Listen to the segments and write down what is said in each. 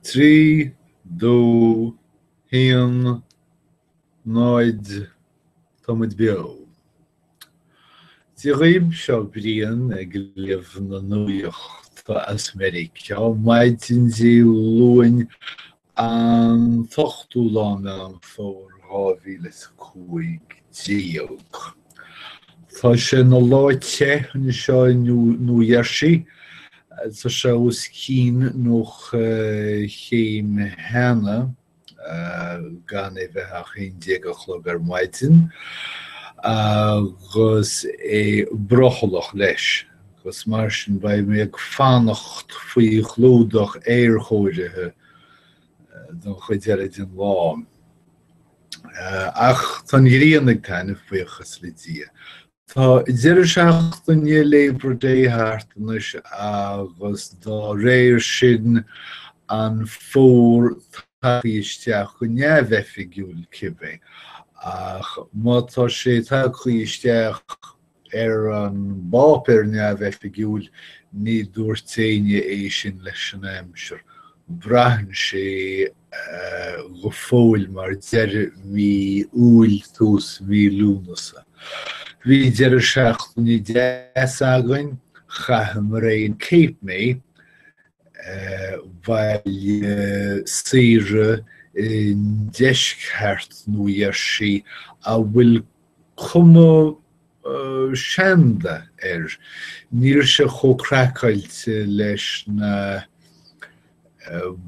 Trí, dó, a haon, náid, Táimid beo. Dia dhaoibh, seo Brian ag léamh na nuaíochta as Meiriceá, maidin Dé Luain An t-ochtú lá Mheán Fómhair 2015. Tá sé ina lá te anseo i New Jersey. Tá sé os cionn 90 chéim cheana, gan é bheith ach 11 a chlog ar maidin, agus é brothallach leis. Agus mar sin, beidh mé ag fanacht faoi chlúdach aerchóirithe don chuid eile den lá. Ach tá an ghrian ag taitneamh, buíochas le Dia. Tá deireadh seachtaine Labor Day thart anois agus dá réir sin an fómhar tagtha isteach go neamhoifigiúil cibé. Ach má tá sé tagtha isteach, Ar an bpáipéar neamhoifigiúil, ní dúirt éinne é sin leis an aimsir. Braitheann sé go fóill mar dheireadh mhí Iúil, tús mhí Lúnasa. Bhí deireadh seachtaine deas againn, chaitheamar é in Cape May, baile saoire i ndeisceart Nua Gheirsí a bhfuil Cuma sheanda air. Ní raibh sé chomh craiceáilte leis na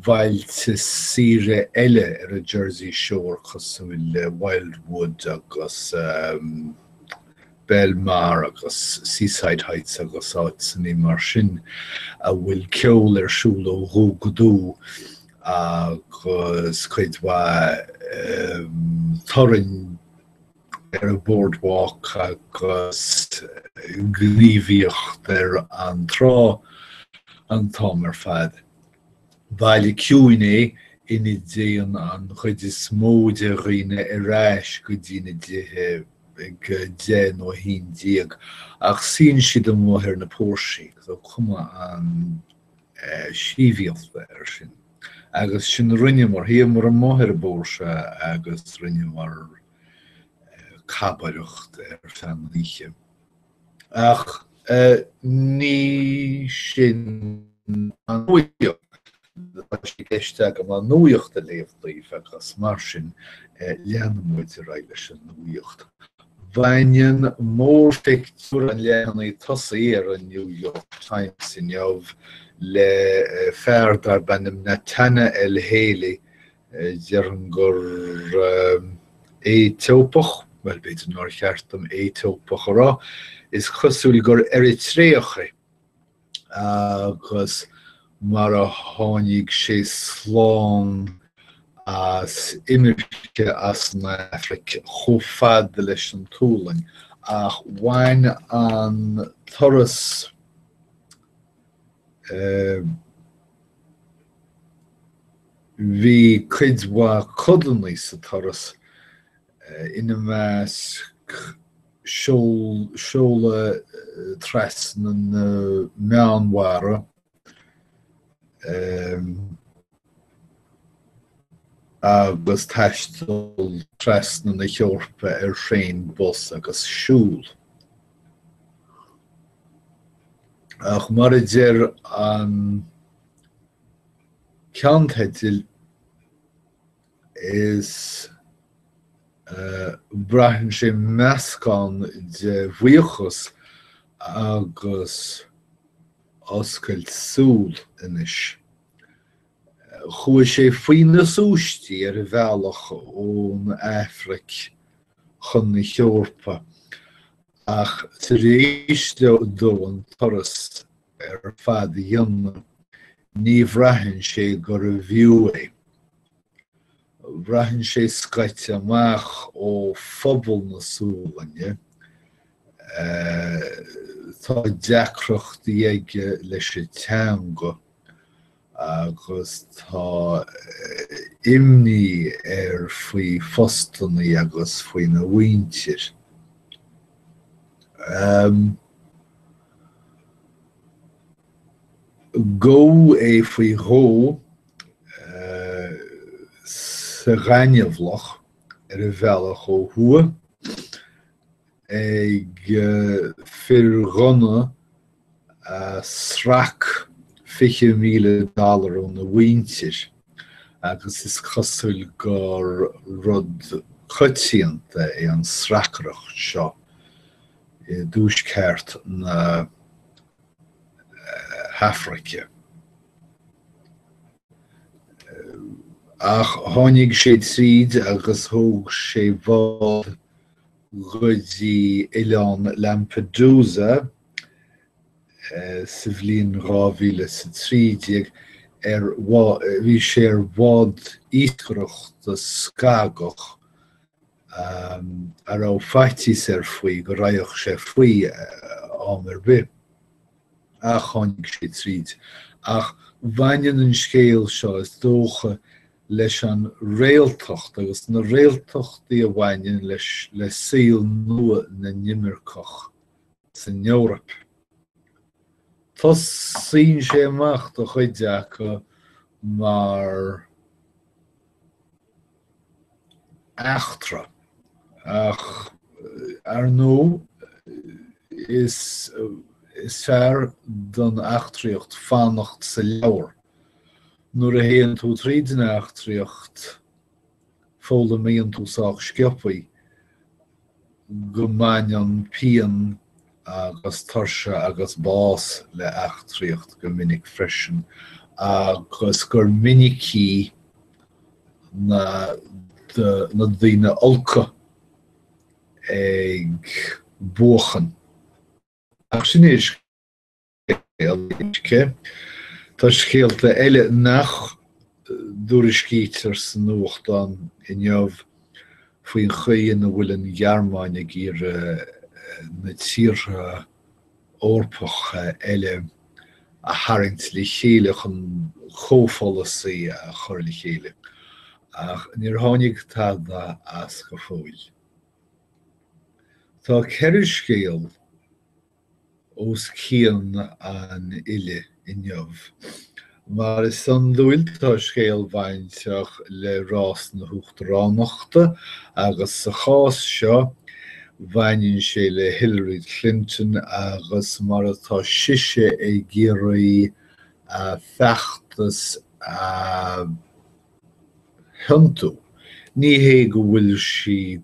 bailte saoire eile ar an Jersey Shore cosúil le Wildwood agus Belmar agus Seaside Heights agus áiteachaí mar sin a bhfuil ceol ar siúl ó dhubh go dubh agus cuid mhaith torainn ar an Boardwalk agus gníomhaíocht ar an trá an t-am ar fad. Baile ciúin é ina dtéann an chuid is mó de dhaoine ar ais go dtí na dtithe ag a deich nó a haon déag ach suíonn siad amuigh ar na póirsí, cuma an- sibhialtachta air sin. Agus sin a rinneamar, shuíomar amuigh ar an bpóirse agus rinneamar cabaireacht ar feadh na hoíche. Ach ní sin an nuaíocht. Tá sé i gceist agam an nuaíocht a léamh daoibh agus mar sin leanfaimid ar aghaidh leis an nuaíocht. Baineann mórphictiúr an leathanaigh tosaigh ar a' New York Times inniu le fear darb ainm Netane el-Haili, déarfainn gur Aetópach, bhuel, b'fhéidir nár cheart dom Aetópach a rá, is cosúil gur Eritreach é. agus mar a tháinig sé slán as imirce as an Afraic chomh fada leis an tSualainn, ach bhain an turas eh, bhí cuid mhaith codanna sa turas, eh, ina measc, seol seoladh trasna na Meánmhara agus taisteal trasna na hEorpa ar thraein, bus agus siúl. Ach mar a deir an ceannteideal, is é braitheann sé meascán de bhuíochas agus oscailt súl anois. Chuaigh sé faoi na súistí ar a bhealach ón Afraic chun na hEorpa, ach tar éis dó an turas ar fad a dhéanamh, Ní bhraitheann sé gurbh fhiú é. Braitheann sé scoite amach ó phobal na Sualainne. Tá deacrachtaí aige leis an teanga agus tá imní air faoi phostanna agus faoina mhuintir. Gabhadh é faoi dhó sa ghaineamhlach ar a bhealach ó thuaidh ag fir ghunna a srac 20 míle dollar óna mhuintir agus is cosúil gur rud coitianta é an sracaireacht seo i dtuaisceart na hAfraice. Ach tháinig sé tríd agus thóg sé bád go dtí oileán Lampedusa sa bhliain 2013, ar bhí sé ar bhád iascaireachta scagach, a raibh faitíos air faoi go raghadh sé faoi am ar bith. Ach tháinig sé tríd. Ach bhaineann an scéal seo, is dócha, leis an réaltacht agus na réaltachtaí a bhaineann le saol nua na n-imirceach san Eoraip. Tosaíonn sé amach, do chuid acu, mar. eachtra. Ach, ar ndóigh, is is fearr don eachtraíocht fanacht sa leabhar. Nuair a théann tú tríd an eachtraíocht, foghlaimíonn tú sách sciobtha go mbaineann pian agus tuirse agus bás le heachtraíocht go minic freisin agus gur minicí na daoine olca ag buachan. Ach sin é a. Tá scéalta eile nach dtuairiscítear sa nuachtán inniu faoin chaoi ina bhfuil an Ghearmáin ag iarraidh na tíortha Eorpacha eile a tharraingt le chéile chun comhpholasaí a chur le chéile, ach níor tháinig tada as go fóill. Tá ceithre scéal. os cionn an fhillte inniu. Mar is iondúil, tá scéal bainteach le rás na huachtaránachta agus sa chás seo, baineann sé le Hillary Clinton agus mar atá sise ag iarraidh a feachtas a thiontú. Ní hé go bhfuil sí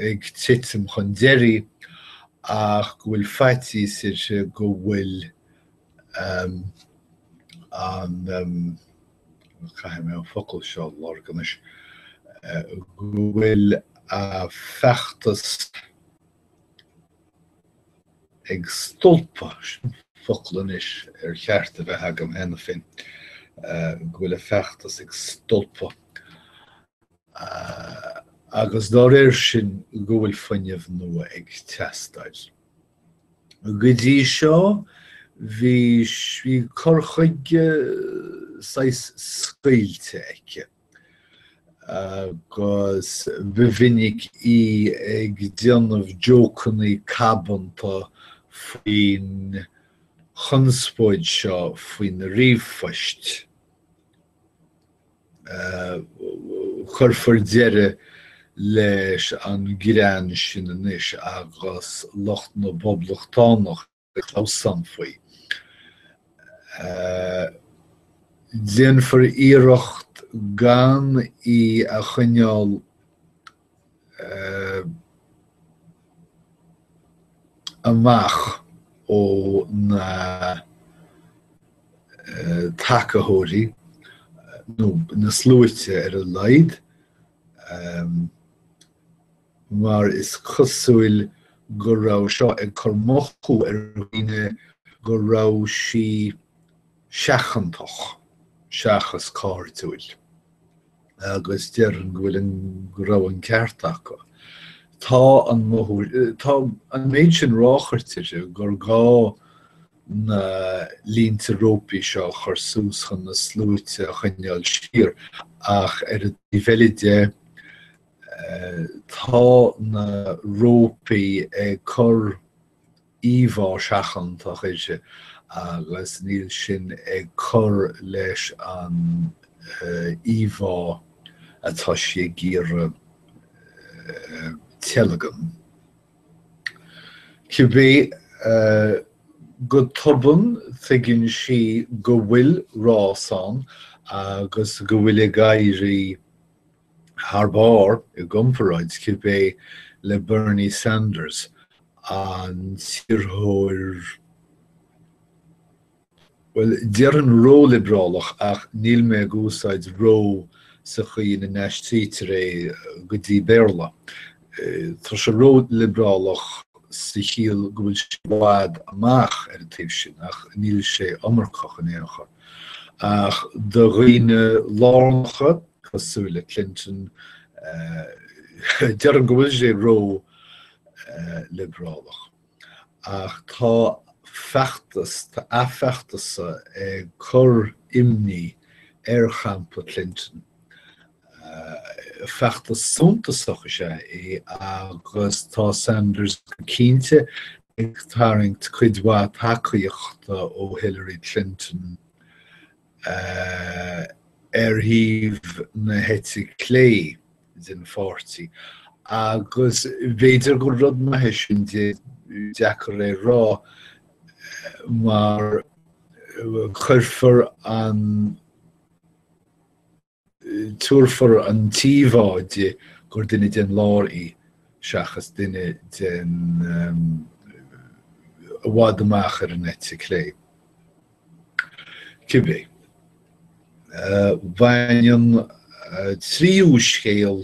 ag titim chun deiridh ach go bhfuil faitíos uirthi go bhfuil an, caithfidh mé an focal seo a lorg anois, go bhfuil a feachtas ag stolpadh, sin an focal anois ar cheart a bheith agam cheana féin, go bhfuil a feachtas ag stolpadh. agus dá réir sin go bhfuil fuinneamh nua ag teastáil. Go dtí seo bhí cur chuige saghas scaoilte aici, agus ba mhinic í ag déanamh jócannaí cabanta faoin chonspóid seo faoin ríomhphost. Cuirfear deireadh leis an greann sin anois agus lucht na bPoblachtánach ag clamhsán faoi. Déanfar iarracht gan í a choinneáil amach ó na tacaitheoirí nó na sluaite ar a laghad mar is cosúil go raibh seo ag cur ina luí ar dhaoine go raibh sí seachantach seachas cairdiúil, agus déarfainn go bhfuil an, go raibh an ceart acu. Tá an, tá an méid sin ráchairte uirthi gur gá na línte rópaí seo a chur suas chun na sluaite a choinneáil siar, ach ar an taobh eile de, tá na rópaí ag cur íomhá seachantach uirthi agus níl sin ag cur leis an íomhá atá sí ag iarraidh teilgean. Cibé, go tobann tuigeann sí go bhfuil rás ann agus go bhfuil ag éirí thar barr i gcomparáid cibé le Bernie Sanders, an t-iarrthóir, bhuel, déarfainn ró-liobrálach ach níl mé ag úsáid 'ró' sa chaoi ina n-aistrítear é go dtí Béarla. Tá sé ró-liobrálach sa chiall go bhfuil sé i bhfad amach ar an taobh sin ach níl sé iomarcach in aon chor. Ach do dhaoine lárnacha, cosúil le Clinton, déarfainn go bhfuil sé ró liobrálach. Ach tá feachtas, tá a fheachtas ag cur imní ar champa Clinton. Feachtas suntasach is ea é agus tá Sanders go cinnte ag tarraingt cuid mhaith tacaíochta ó Hillary Clinton ar thaobh na heite clé den pháirtí, agus b'fhéidir gur rud maith é sin, deacair a rá, mar cuirfear an. Tabharfar an t-íomhá di gur duine den lár í seachas duine den i bhfad amach ar an eite clé. Cibé, bhain an tríú scéal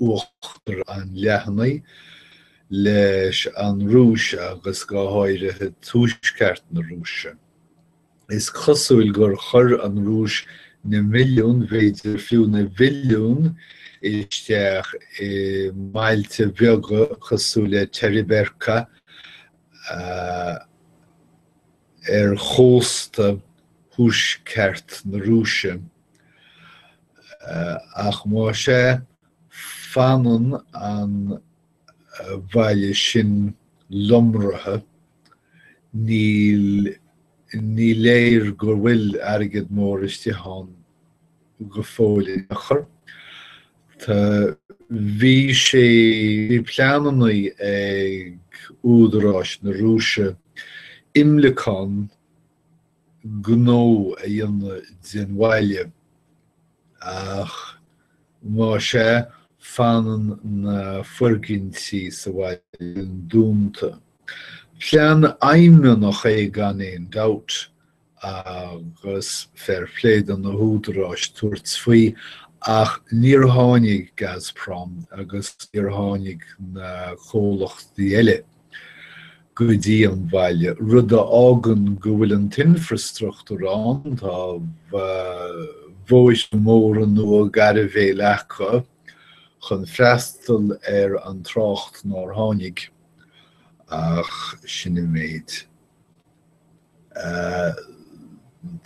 uachtar an leathanaigh leis an Rúis agus go háirithe Tuaisceart na Rúise. Is cosúil gur chuir an Rúis na milliúin, b'fhéidir fiú na bhilliúin, isteach i mbailte bheaga cosúil le Teriberka ar chósta thuaisceart na Rúise. Ach má sea, fanann an bhaile sin lomraithe. Ní, ní léir go bhfuil airgead mór isteach ann go fóill in aon chor. Tá, bhí sé, bhí pleananna ag údaráis na Rúise imleacán, gnó a dhéanamh den bhaile, ach má sea, fanann na foirgintí sa bhaile dúnta. Plean aidhmeannach é gan aon dabht, agus fair play do na húdaráis tabhairt faoi, ach níor tháinig Gazprom agus níor tháinig na comhlachtaí eile go dtí an bhaile, rud a fhágann go bhfuil an t-infreastruchtúr ann, tá bhóithre móra nua gairbhéil acu chun freastal ar an trácht nár tháinig, ach sin an méid.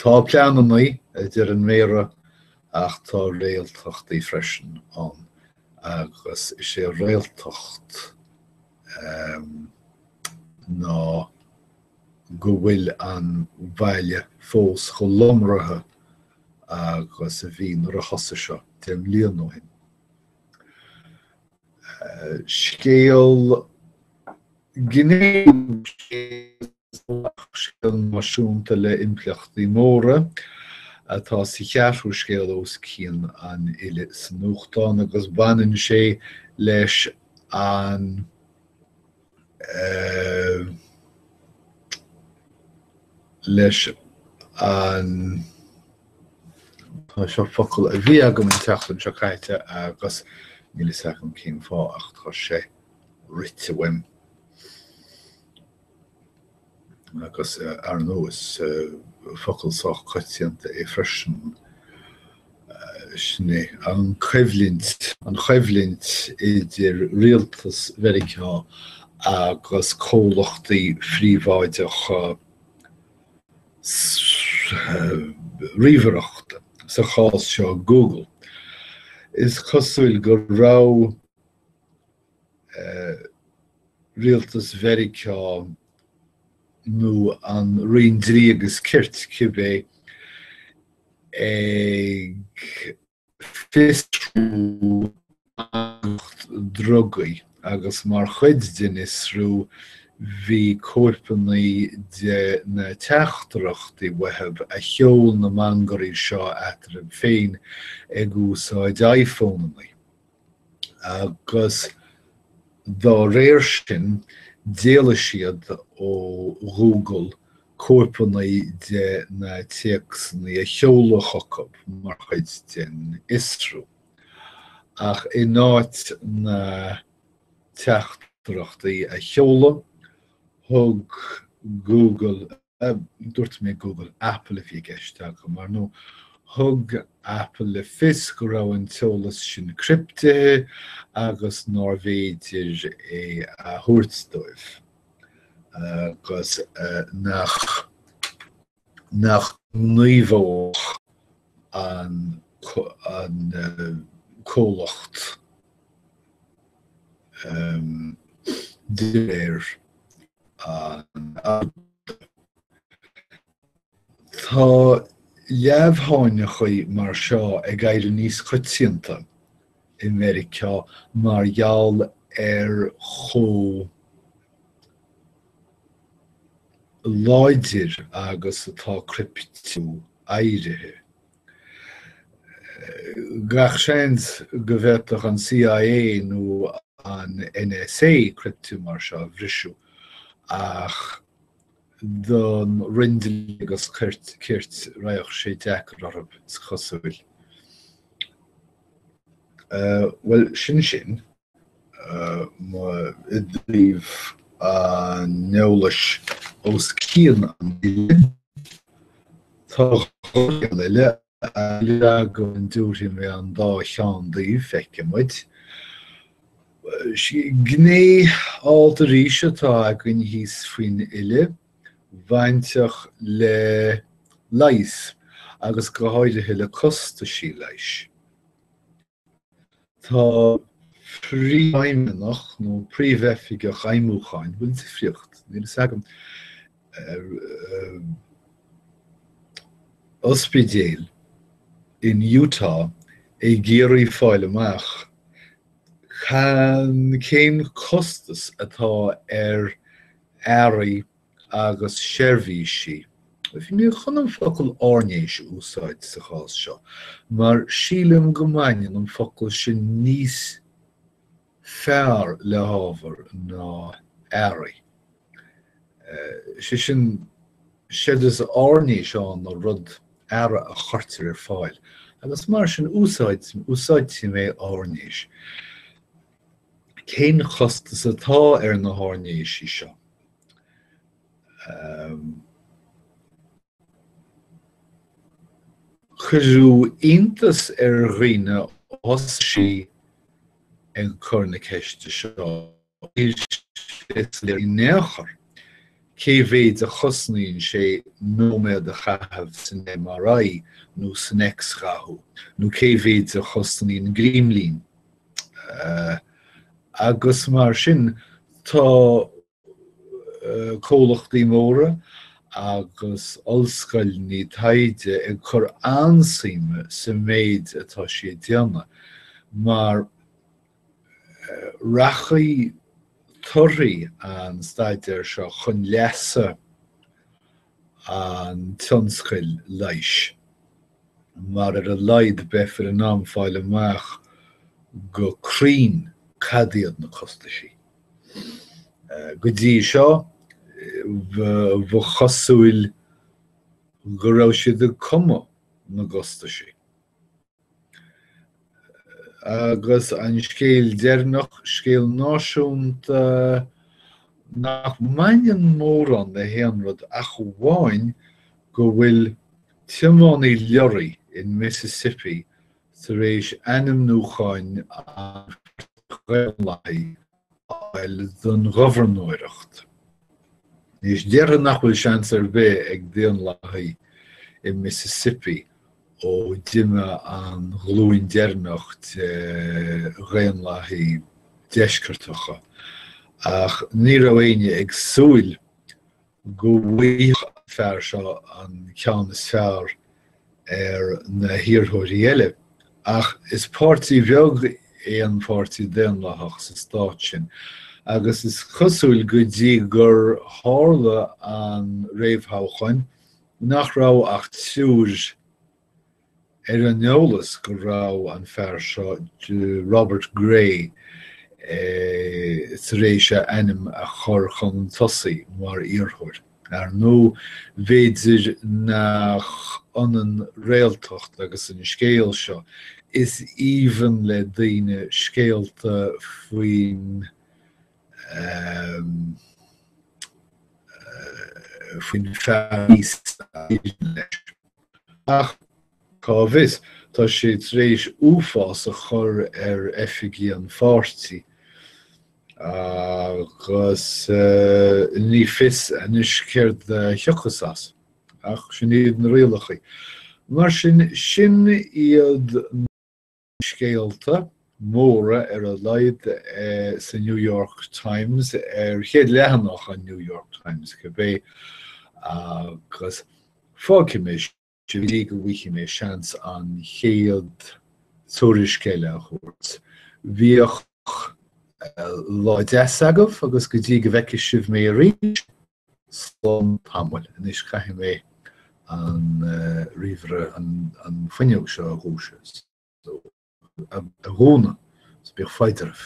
Tá pleananna, a deir an Méara, ach tá réaltachtaí freisin ann, agus is é réaltacht ná go bhfuil an bhaile fós chomh lomraithe agus a bhí nuair a thosaigh seo deich mbliana ó shin. Scéal gnéis é Scéal náisiúnta le impleachtaí móra, atá sa cheathrú scéal os cionn an fhile sa nuachtán agus baineann sé leis an leis an tá seo focal a bhí agam an tseachtain seo caite agus níl a fhios agam cén fáth ach tá sé rite uaim. Agus ar ndóigh, is focal sách coitianta é freisin, sin é an choimhlint, an choimhlint idir rialtas Mheiriceá agus comhlachtaí phríobháideacha ríomhaireachta, sa chás seo Google. Is cosúil go raibh rialtas Mheiriceá nó an Roinn Dlí agus Cirt, cibé, ag fiosrú lucht drugaí agus mar chuid den fhiosrú bhí cóipeanna de na teachtaireachtaí uathu a sheol na mangairí seo eatarthu féin ag úsáid iPhoneanna. agus dá réir sin, d'éiligh siad ó Google cóipeanna de na téacsanna a sheoladh chucu mar chuid den fhiosrú. Ach in áit na teachtaireachtaí a sheoladh, thug Google Dúirt mé Google, Apple a bhí i gceist agam, ar ndóigh. Thug Apple le fios go raibh an t-eolas sin criptithe agus nárbh fhéidir é a thabhairt dóibh agus nach ngníomhódh an comhlacht dá réir Tá leamhsháinneachaí mar seo ag éirí níos coitianta i Meiriceá mar gheall ar chomh láidir agus atá criptiú éirithe. Gach seans go bhféadfadh an CIA nó an NSA criptiú mar seo a bhriseadh, ach don Roinn Dlí agus Cirt, raghadh sé deacair orthu, is cosúil. Bhuel, sin sin. mo i dtaobh an eolais os cionn an fhilleadh. Tá dhá cheann eile air agam an dtabharfaidh mé an dá cheann daoibh, feicfimid. Gné alt arís atá againn thíos faoin fhilleadh, bainteach le leigheas agus go háirithe le costaisí leighis. Tá príomhfheidhmeannach nó príomhoifigeach feidhmiúcháin, bhfuil difríocht? níl a fhios agam, ospidéil in Utah ag iarraidh fáil amach cén costas atá ar earraí a agus seirbhísí. Bhí mé chun an focal airnéis a úsáid sa chás seo, mar sílim go mbaineann an focal sin níos fearr le hábhar ná earraí. Sé sin, séard is airnéis ann ná rud, earra a chuirtear ar fáil, agus mar sin úsáidfidh mé airnéis. Cén costas atá ar na hairnéisí seo? Cuireadh iontas ar dhaoine ós í ag cur na ceiste seo, in aon chor cé mhéid a chosnaíonn sé nóiméad a chaitheamh san MRI nó san x-ghathú, nó cé mhéid a chosnaíonn grímlín agus mar sin tá comhlachtaí móra agus ollscoileanna taighde ag cur an-suime sa méid atá sí ag déanamh mar rachaidh torthaí an staidéir seo chun leasa an tionscail leighis. mar ar a laghad beifear in ann fáil amach go cruinn cad iad na costaisí. Go dtí seo, ba chosúil go raibh siad ag cumadh na gcostaisí. Agus an scéal deireanach, scéal náisiúnta nach mbaineann mórán le haon rud ach amháin go bhfuil tiománaí leoraí in Mississippi tar éis ainmniúchán an Pháirtí Dhaonlathaigh fháil don ghobharnóireacht. Anois, déarfainn nach bhfuil seans ar bith ag Daonlathaigh i Mississippi ó d'imigh an ghlúin deireanach de Dhaonlathaigh Dheisceartacha, ach ní raibh éinne ag súil go bhfaighfeadh an fear seo an ceann is fearr ar na hiarrthóirí eile, ach is páirtí bheag é an Páirtí Daonlathach sa stát sin, agus is cosúil, go dtí gur tharla an réamhthoghchán, nach raibh ach triúr ar an eolas go raibh an fear seo, Robert Grey, tar éis a ainm a chur chun tosaigh mar iarrthóir. Ar ndóigh, b'fhéidir nach ionann réaltacht agus an scéal seo, is aoibheann le daoine scéalta faoin fear ní. Ach, cá bhfios, tá sé tar éis uafás a chur ar oifigigh an pháirtí, agus ní fios anois céard a thiocfas as. Ach sin iad na rialachaí. Mar sin, sin iad na. scéalta móra ar a laghad sa New York Times, ar chéad leathanach an New York Times cibé, agus fágfaidh mé sibh go dtí go bhfaighe mé seans an chéad tuairisc eile a thabhairt. Bíodh lá deas agaibh agus go dtí go bhfeicfidh sibh mé arís. slán tamall. Anois caithfidh mé an ríomhaire, an fuinneog seo a dhúiseacht, a dhúnadh, so bíodh foighid oraibh.